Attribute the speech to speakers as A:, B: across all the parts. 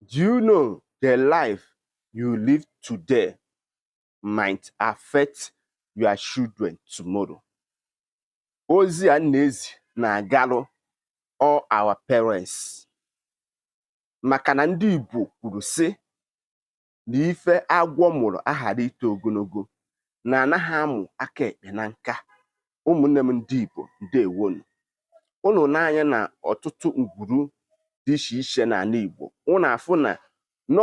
A: Do you know the life you live today might affect your children tomorrow? Ozi a na-ezi na-agalụ all our parents maka na ndị Igbo kwuru sị na ife agwọ mụrụ aghara ito ogologo na anaghị amụ aka ekpe na nka ụmụnne m ndị Igbo ndewonụ ụnụ nee anya na ọtụtụ ngwuru dị iche iche n'ala Igbo ụnụ afụ na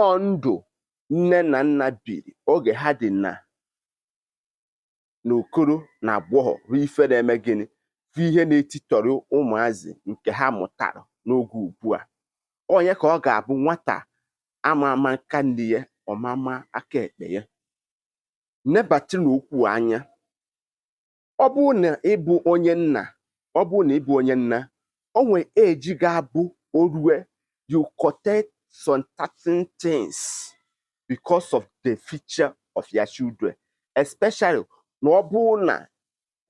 A: ọọ ndụ nne na nna biri oge ha dị na na okoro na agbọghọ bụ ife na-eme gịnị bụ ihe na-etitọrọ ụmụazị nke ha mụtara n'oge ugbu a onye ka ọ ga-abụ nwata ama ama aka nni ya ọ ma-ama aka ekpe ya nebata n'okwu anya ọ bụrụ na ị bụ onye nna ọ bụrụ na ị bụ onye nna o nwere age ga-abụ o rue you correct some certain things because of the future of your children especially na ọ bụrụ na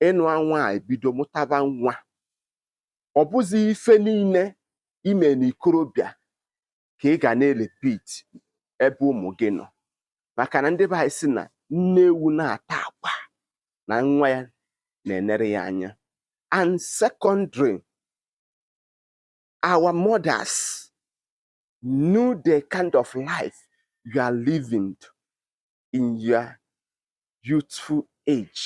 A: ị nụa nwanyị bido mụtaba nwa ọ bụzi ife niile i me n'ikorobịa ka ị ga na-repeat ebe ụmụ gị nọ maka na ndị be anyị sị na nne ewu na-ata akwa na nwa ya na-enere ya anya and secondly our mothers knew the kind of life you are living in your youthful age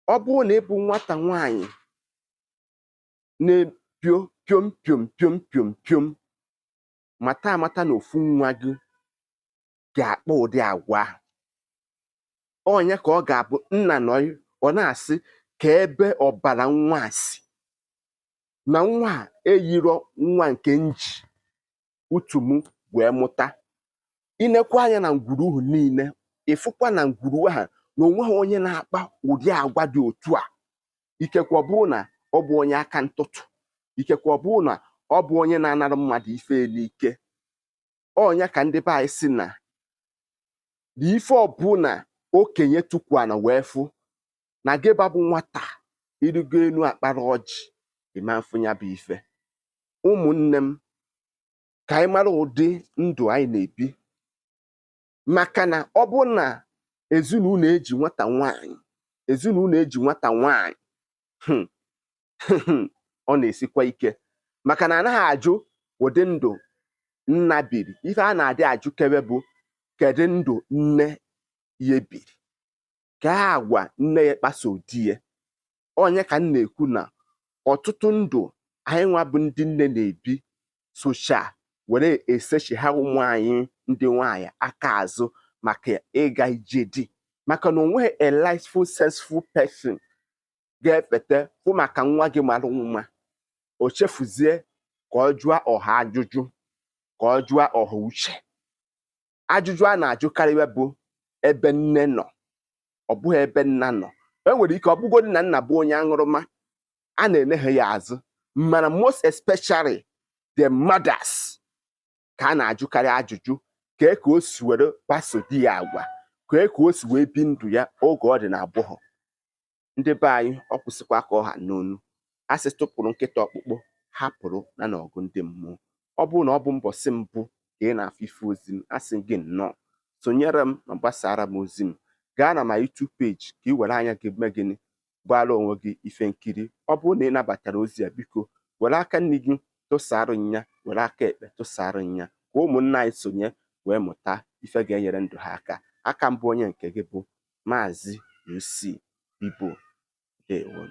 A: ọ bụrụ na ị bụ nwata nwanyị na-epio piom piom piom piom piom mata amata na ofu nwa gị ga-akpa ụdị agwa ahụ onye ka ọ ga-abụ nna nọ ọ na-asị kee ebe ọbara nwa a si na nwa a eyiro nwa nke m ji utu m wee mụta i nekwa anya na ngwuru ahụ niile ị fụkwa na ngwuru ahụ na o nweghị onye na-akpa ụdị agwa dị otu a ikekwe ọ bụrụ na ọ bụ onye aka ntụtụ ikekwe ọ bụrụ na ọ bụ onye na-anara mmadụ ife n'ike ọ nya ka ndị be anyị sị na na ife ọbụla okenye tukwu ana wee fụ na gịwa bụ nwata i rigo enu akpara ọjị ị ma-afụ nya bụ ife ụmụnne m ka anyị mara ụdị ndụ anyị na-ebi maka na ọ bụrụ na ezinụlọ eji nwata nwaanyị ezinụlọ eji nwata nwaanyị hmm, ọ na-esikwa ike maka na anaghị ajụ ụdị ndụ nna biri ife a na-adị ajụkebe bụ kedu ndụ nne ya biri ka agwa nne ya kpaso di ya ọ nya ka m na-ekwu na ọtụtụ ndụ anyị nwa bụ ndị nne na-ebi socha were esechigha ụmụ anyị ndị nwaanyị aka azụ maka ịga ije di maka na onweghị a rightful senseful person ga-efeta fụ maka nwa gị mara mma o chefuzie ka ọ jụọ ọha ajụjụ ka ọ jụọ ọha uche ajụjụ a na-ajụkarịwa bụ ebe nne nọ ọ bụghị ebe nna nọ e nwere ike ọ bụgodị na nna bụ onye aṅụrụma a na-enegha ya azụ mana most especially the mothers ka a na-ajụkarị ajụjụ kee ka o si were kpaso di ya agwa kee ka o si wee bi ndụ ya oge ọ dị na agbọghọ ndị be anyị ọ kwụsịkwa ka ọ ha n'onu a sị tụpụrụ nkịta ọkpụkpụ hapụrụ nya n'ọgụ ndị mmụọ ọ bụrụ na ọ bụ mbọsị mbụ ka ị na-afụ ife ozi m a sị gị nnọọ sonyere m ma gbasaara m ozi m gaa na ma YouTube page ka ị were anya gị mee gịnị gbaara onwe gị ife nkiri ọ bụrụ na ị nabatara ozi a biko were aka nni gị tụsara nya were aka ekpe tụsara nya ka ụmụnna anyị sonye wee mụta ife ga-enyere ndụ ha aka a ka m bụ onye nke gị bụ Maazị UC Pipo Dewon.